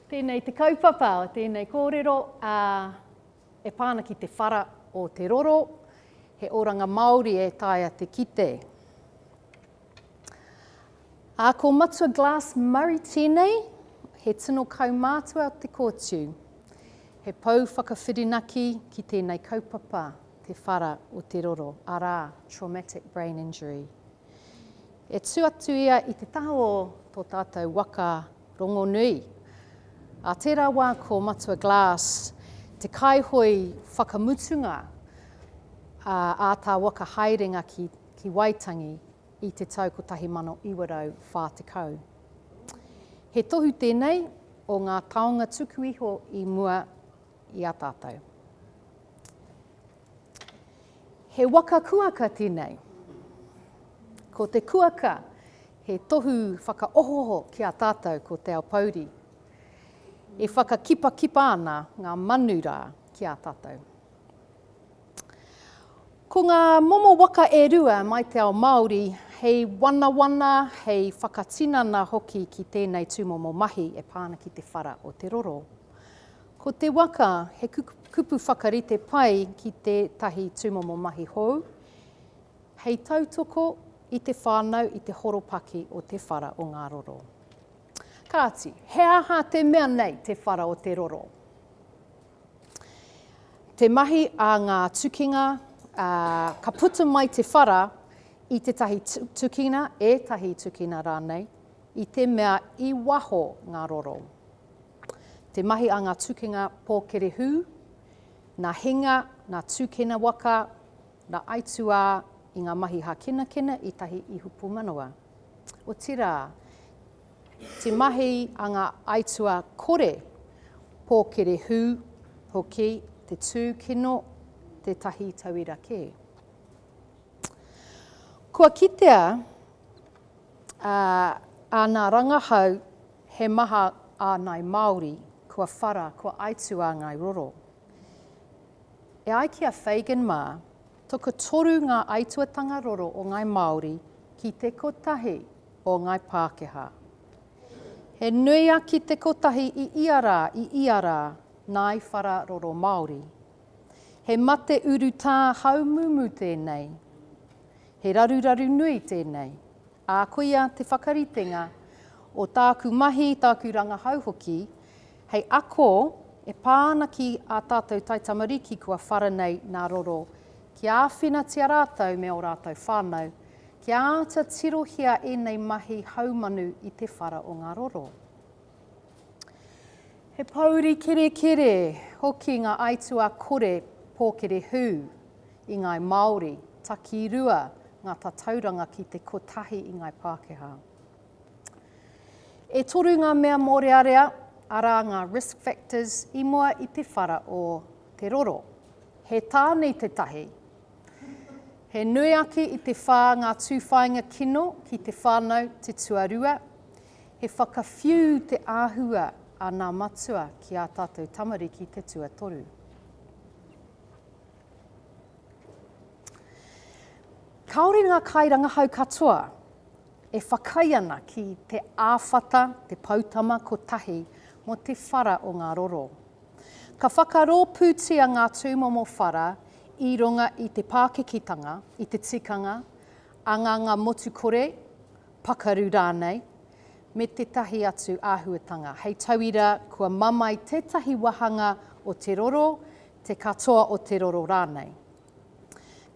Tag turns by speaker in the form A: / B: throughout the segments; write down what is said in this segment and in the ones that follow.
A: Tēnei te kaupapa, tēnei kōrero ā, e pā ana ki te whara o te roro, he oranga Māori e taea te kite. Ā, ko Matua Glass Murray tēnei, he tino kaumātua o te kōtiu. He pou whakawhirinaki ki tēnei kaupapa, te whara o te roro, arā, traumatic brain injury. E tū atu ia i te taha o tō tātou waka rongonui. Ā tērā wā ko Matua Glass te kaihoe whakamutunga ā tā waka haerenga ki ki Waitangi i te tau 1940. He tohu tēnei o ngā taonga tuku iho i mua i a tātou. He waka kuaka tēnei. Ko te kuaka he tohu whakaohoho ki a tātou ko Te Ao Pouri. E whakakipakipa ana ngā manu rā ki a tātou. Ko ngā momo waka e rua mai te ao Māori hei wanawana, hei whakatinana hoki ki tēnei tūmomo mahi e pā ana ki te whara o te roro. Ko te waka he kupu whakarite pai ki tētahi tūmomo mahi hou, hei tautoko i te whānau i te horopaki o te whara o ngā roro. Kāti, he aha te mea nei te whara o te roro? Te mahi a ngā tukinga, ā, ka puta mai te whara i tētahi tukina, ētahi tukina rānei, i te mea i waho ngā roro. Te mahi a ngā tukinga pōkerehū, nā hinga, nā tūkena waka, nā aituā i ngā mahi hākinakina i tahi ihu pūmanawa. Otirā, Te mahi a ngā aituā kore, pōkere hū hoki te tū kino tētahi tauira kē. Kua kitea ā ngā rangahau he maha ā ngāi Māori kua whara, kua aituā ngāi roro. E ai ki a Fagan mā, tokotoru ngā aituatanga roro o ngāi Māori ki te kotahi o Ngai Pākehā. He nui a Ki te Kotahi i ia rā, i ia rā, nāi whara roro Māori. He mate urutā haumumu tēnei. He raruraru nui tēnei. Ā, koia te whakaritenga o tāku mahi, tāku rangahau hoki, hei ako e pā ana ki ā tātou taitamariki kua whara nei nā roro, kia āwhinatia rātou me ō rātou whānau, Kia āta tirohia ēnei mahi haumanu i te whara o ngā roro. He pōuri kerekere hoki ngā aituā kore pōkere hū i ngāi Māori, takirua ngā tatauranga ki te kotahi i ngāi Pākehā. E toru ngā mea mōrearea, arā ngā risk factors i mua i te whara o te roro. He tāne tētahi, He nui ake i te whā ngā tūwhāinga kino ki te whānau te tuarua. He whakawhiu te āhua a nā matua ki ā tātou tamariki te tuatoru. Kāore ngā kairangahau katoa e whakaae ana ki te āwhata te poutama kotahi mō te whara o ngā roro. Ka whakarōpūtia ngā tūmomo whara i runga i te pākikitanga, i te tikanga, anganga motu kore, pakaru rānei, me tētahi atu āhuatanga. Hei tauira, kua mamae tētahi wāhanga o te roro, te katoa o te roro rānei.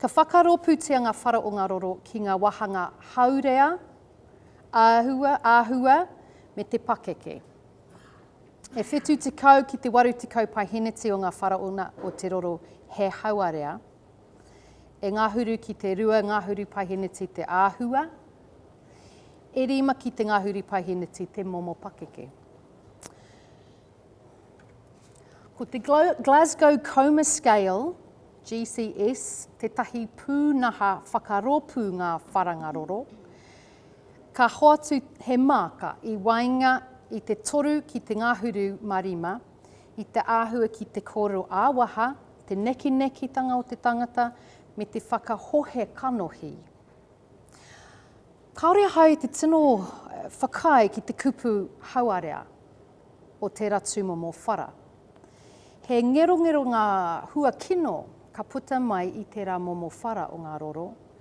A: Ka whakarōpūtia ngā whara o ngā roro ki ngā wāhanga haurea, āhua, me te pakeke. E whitu tekau ki te waru tekau paiheneti o nga Faraona o te roro he hauarea, e ngahuru ki te rua ngahuru paiheneti te ahua, e rima ki te ngahuru paiheneti te momo pakeke. Ko te Glasgow Coma Scale, GCS, tetahi pūnaha whakaropu nga wharanga roro, Ka hoatu he māka i waenga i te toru ki te ngahuru mā rima, i te āhua ki te kōrero ā-waha, te nekinekitanga o te tangata, me te whakahohe kanohi. Kāore ahau i te tino whakaae ki te kupu hauarea o tērā tūmomo whara. He ngerongero ngā hua kino ka puta mai i tērā momo whara o ngā roro,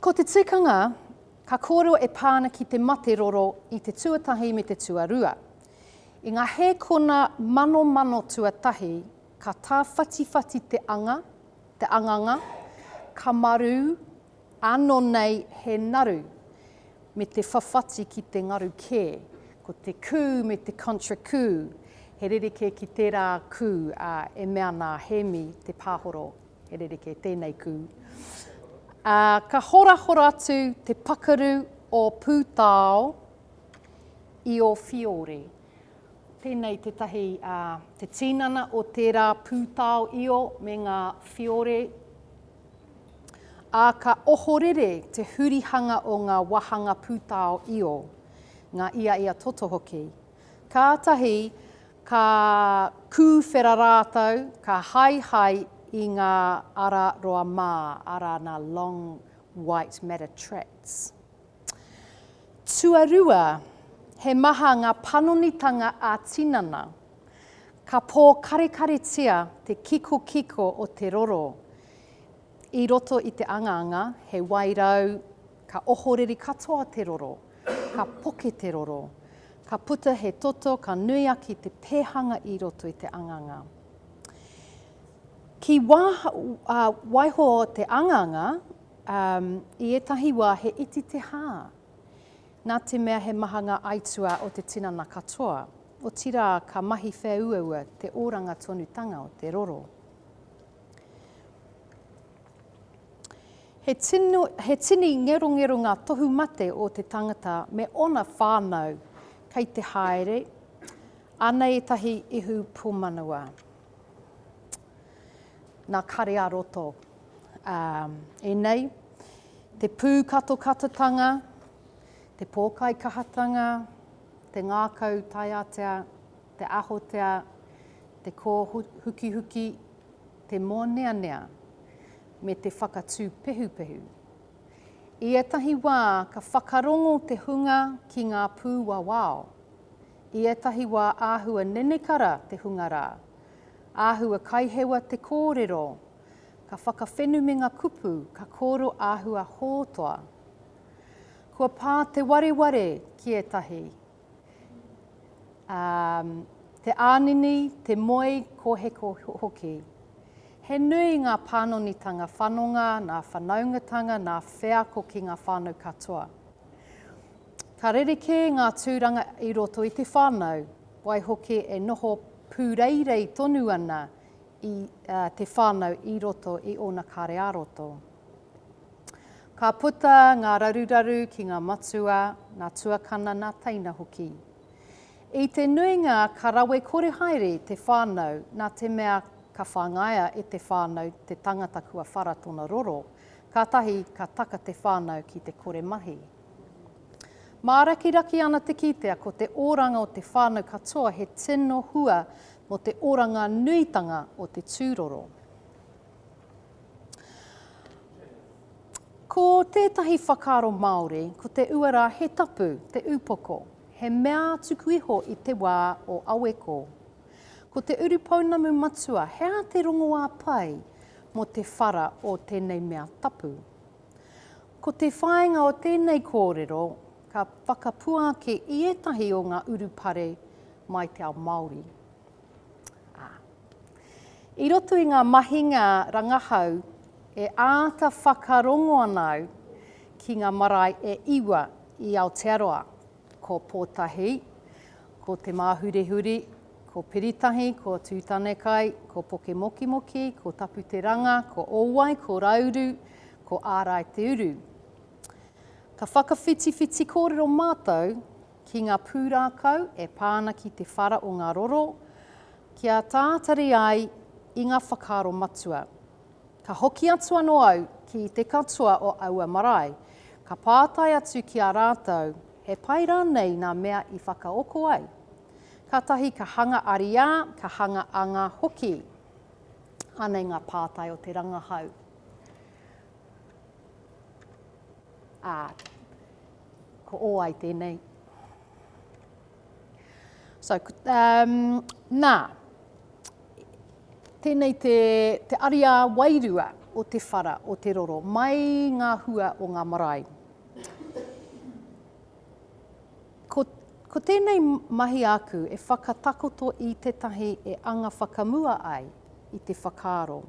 A: Ko te tikanga, ka kōrero e pā ana ki te mate roro i te tuatahi me te tuarua. I ngā hēkona manomano tuatahi, ka tāwhatiwhati te anga, te anganga, ka marū, Ano nei he naru me te whawhati ki te ngaru ke, ko te ku me te contra ku, he rerekē ki tērā ku, ā, e mea ana a Hēmi Te Pāhoro, he rerekē tēnei ku. Ā, ka horahora atu te pakaru o Pūtao i o Whiore. Tēnei tētahi, ā, te tīnana o tērā Pūtao i o me ngā Whiore, Ā, ka ohorere te hurihanga o ngā wāhanga pūtao i ō, ngā ia i a toto hoki. Kātahi ka kūwhera rātou, ka haehae i ngā ara roa mā, arā, nā long white matter tracts. Tuarua, he maha ngā panonitanga ā-tinana. Ka pōkarekaretia te kikokiko o te roro i roto i te angaanga, he wairau, ka ohoreri katoa te roro, ka poke te roro, ka puta he toto ka nui ake te pēhanga i roto i te angaanga. Ki waiho te angaanga, Ā, i ētahi wā he iti te hā, nā te mea he maha ngā aituā o te tinana katoa, otirā ka mahi whēuaua te oranga tonutanga o te roro. He tino, he tini ngerongero ngā tohu mate o te tangata me ōna whānau kei te haere, anei ētahi ihu pūmanawa. Nā Kare-ā-roto. Ā, e nei, te pūkatokatatanga, te pōkaikahatanga, te ngākau taiatea, te ahotea, te kōhukihuki, te mōneanea, me te whakatū pehupehu. I ētahi wā ka whakarongo te hunga ki ngā pūwawao, I ētahi wā āhua nenekara te hunga rā. Āhua kaihewa te kōrero. Ka whakawhenu me ngā kupu ka kōro āhua hōtoa. Kua pā te wareware ki ētahi. Um, te ānini, te moe, kōheko hoki. He nui ngā pānonitanga whanonga nā whanaungatanga nā wheako ki ngā whānau katoa. Ka rerekē ngā tūranga i roto i te whānau, waihoki e noho pūreirei tonu ana i te whānau i roto i ōna kare ā-roto. Ka puta ngā raruraru ki ngā matua, ngā tuakana, ngā teina hoki. I te nuinga ka rawe kore haere te whānau nā te mea ka whangaia e te whānau te tangata kua whara tona roro, kātahi ka taka te whānau ki te kore mahi. Mārakiraki ana te kitea ko te oranga o te whānau katoa he tino hua mō te oranga nuitanga o te tūroro. Ko tētahi whakaaro Māori, ko te uara he tapu, te upoko, he mea tuku iho i te wā o aweko. Ko te urupounamu matua he aha te rongoā pai mō te whara o tēnei mea tapu. Ko te whāinga o tēnei kōrero, ka whakapuaki i ētahi o ngā urupare mai te ao Māori. Ā. I roto i ngā mahinga rangahau, e āta whakarongo ana au ki ngā marae e iwa i Aotearoa, ko Pōtahi, ko Te Māhurihuri, ko Piritahi, ko Tūtanekai, ko Pokemokimoki, ko Taputeranga, ko Owai, ko Rauru, Ko Ārai te uru. Ka whakawhitiwhiti kōrero mātou ki ngā pūrākau e pā ana ki te whara o ngā roro, kia tātari ai i ngā whakaaro matua. Ka hoki atu anō au ki te katoa o aua marae, ka pātai atu ki a rātou he pai rānei nā mea i whakaoko ai? Kātahi ka hanga ariā, ka hanga anga hoki. Anei ngā pātai o te rangahau. Ā, ko ō ai tēnei. So, um, nā, tēnei te, te ariā wairua o te whara, o te roro, mai ngā hua o ngā marae. Ko, ko tēnei mahi aku e whakatakoto i tētahi e anga whakamua ai i te whakaaro.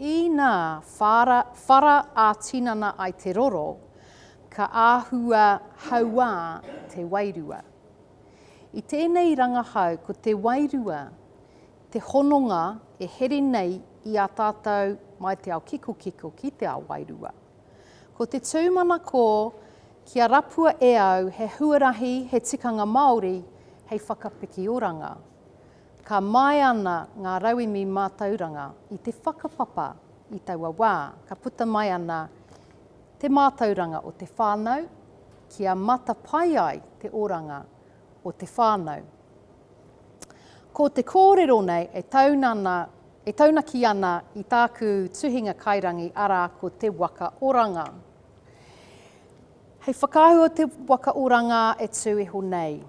A: Inā whara, whara ā-tinana ai te roro, ka āhua hauā te wairua. I tēnei rangahau ko te wairua te hononga e here nei i a tātou mai te ao kikokiko ki te ao wairua. Ko te tūmanako kia rapua e au he huarahi, he tikanga Māori hei whakapiki oranga. Ka māia ana ngā rauemi mātauranga i te whakapapa i taua wā. Ka puta mai ana te mātauranga o te whānau kia matapae ai te oranga o te whānau. Ko te kōrero nei e taunana, e taunaki ana i tāku tuhinga kairangi arā ko Te Waka Oranga. Hei whakaahu o Te Waka Oranga e tū iho nei.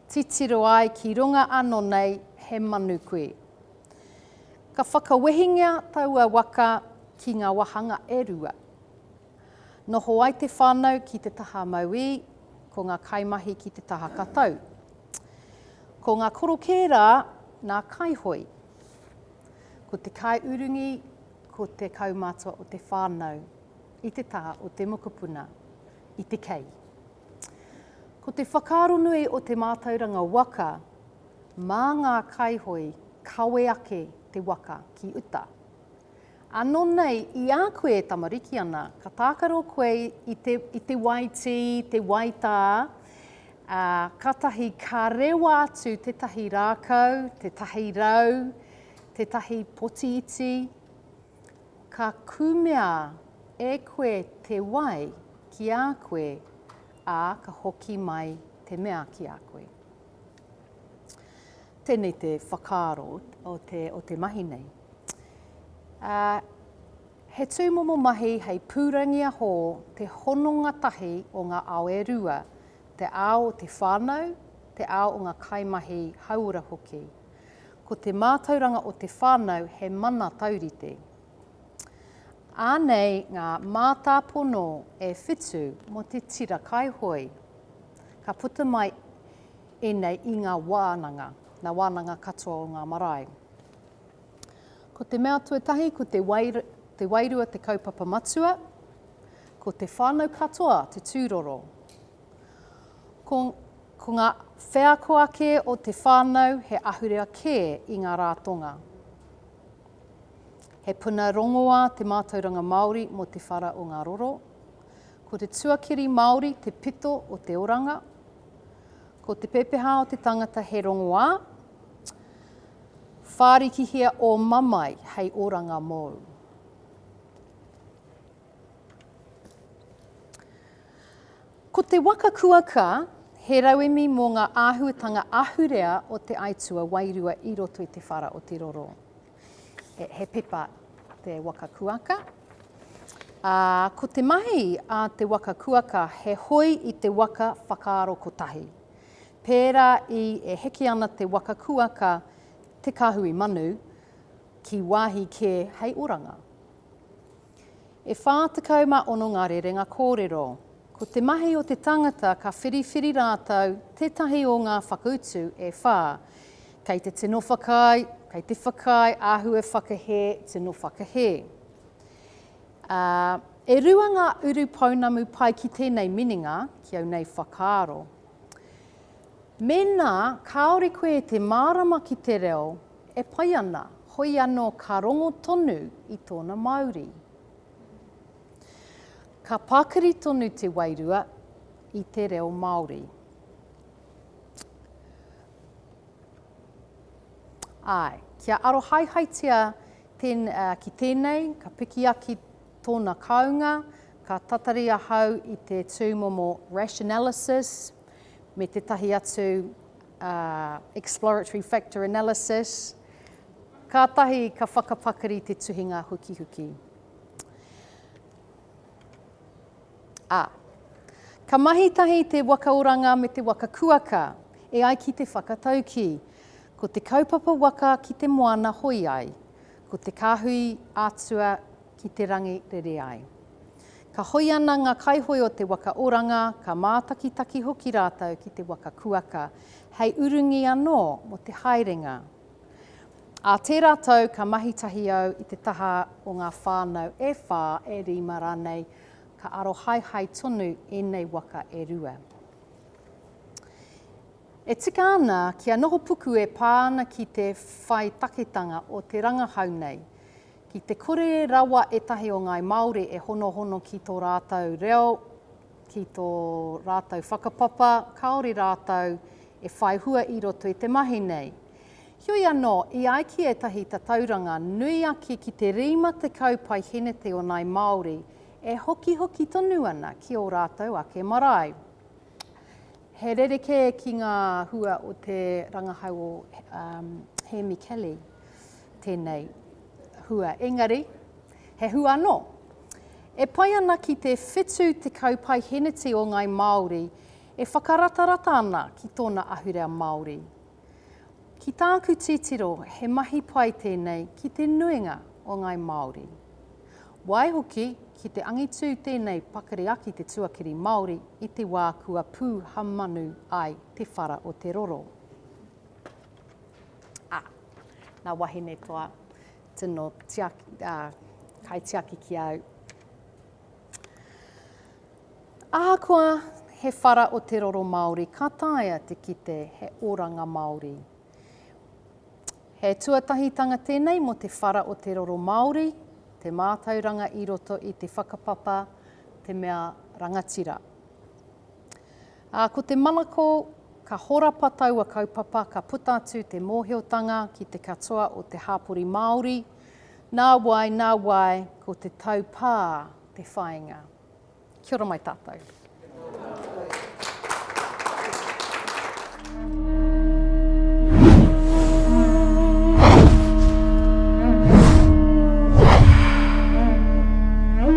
A: Titiro ai ki runga ano nei he manu kui. Ka whakawehingia taua waka ki nga wahanga e rua. Noho ai te whanau ki te taha mauī, ko nga kaimahi ki te taha katau. Ko nga korokē ra na kaihoi. Ko te kaiurungi ko te kaumatua o te whanau i te taha o te mokopuna, i te kei. Ko te whakaaro nui o te mātauranga waka, mā ngā kaihoe kawe ake te waka ki uta. Ano nei i a koe e tamariki ana, ka tākaro koe i te, i te wai tī, te wai tā, ā, kātahi ka rewa atu tētahi rākau, tētahi rau, tētahi poti iti, Ka kumea e koe te wai ki a koe, ā, ka hoki mai te mea ki a koe. Tēnei te whakaaro o te, o te mahi nei. Ā, he tūmomo mahi hei pūrangiahō te hononga tahi o ngā ao e rua, te ao o te whānau, te ao o ngā kaimahi hauora hoki. Ko te mātauranga o te whānau he mana taurite. Anei ngā mātāpono e whitu mō te tira kaihoe. Ka puta mai ēnei i ngā wānanga, ngā wānanga katoa o ngā marae. Ko te mea tuatahi ko te, wai, te wairua te kaupapa matua, ko te whānau katoa te tūroro. Ko, ko ngā wheako ake o te whānau he ahurea kē i ngā rātonga. He puna rongoā te mātauranga Māori mō te whara o ngā roro. Ko te tuakiri Māori te pito o te oranga. Ko te pepehā o te tangata he rongoā. Whārikihia ō mamae hei oranga mōu. Ko te waka kuaka he rauemi mō ngā āhuatanga ahurea o te aituā wairua i roto i te whara o te roro. He, he pepa te waka kuaka. Ā, ko te mahi a te waka kuaka he hoi i te waka whakaaro kotahi. Pērā i e heke ana te waka kuaka te kāhui manu ki wāhi kē hei oranga. E 46 ngā rerenga kōrero. Ko te mahi o te tangata ka whiriwhiri rātou tētahi o ngā whakautu e whā. Kei te tino whakaae, kei te whakaae, āhue whakahē, tino whakahē. Ā, e rua ngā urupounamu pai ki tēnei minenga, ki au nei whakaaro. Mēnā kāore koe e te mārama ki te reo, E pai ana, hoi anō ka rongo tonu i tōna mauri. Ka pakiri tonu te wairua i te reo Māori. Āe, kia arohaehaetia ten, uh, ki tēnei, ka pikiaki tōna kāunga, ka tatari ahau i te tūmomo rationalysis me tētahi atu exploratory factor analysis, kātahi ka whakapakari te tuhinga hukihuki. A. Ka mahi tahi te waka oranga me te waka kuaka, e ai ki te whakataukī, ko te kaupapa waka ki te moana hoi ai, ko te kāhui ātua ki te rangi rere ai. Ka hoi ana ngā kaihoe o te waka oranga, ka mātakitaki hoki rātou ki te waka kuaka, hei urungi anō mō te haerenga. Ā tērā tau ka mahi tahi au i te taha o ngā whānau e whā, e rima rānei, ka arohaehae tonu ēnei waka e rua. E tika ana kia noho puku e pā ana ki te whai taketanga o te rangahau nei. Ki te kore rawa ētahi o ngāi Māori e honohono ki tō rātou reo, ki tō rātou whakapapa, kāore rātou e whai hua i roto i te mahi nei. Heoi anō, i ai ki ētahi tatauranga, nui ake ki te 50 paihēneti o ngāi Māori e hokihoki tonu ana ki ō rātou ake marae. He rerekē ki ngā hua o te rangahau o Hēmi Kelly tēnei hua, engari he hua anō. E pai ana ki te 70 paiheneti o ngāi Māori e whakaratarata ana ki tōna ahurea Māori, Ki tāku titiro he mahi pai tēnei ki te nuinga o ngai Māori. Waihoki ki te angitū tēnei pakari aki te tuakiri Māori i te wā kua pū ha manu ai te whara o te roro. Ah, nā wahine toa tino tiaki, ah, kaitiaki ki au. Ahakoa he whara o te roro Māori ka taea te kite he oranga Māori. He tuatahitanga tēnei mō te whara o te roro Māori, te mātauranga i roto i te whakapapa te mea rangatira. Ā, ko te manako ka horapa taua kaupapa ka puta atu te mōhiotanga ki te katoa o te hāpori Māori, Nā wai, nā wai, ko te taupā te whāinga. Kia ora mai tātou.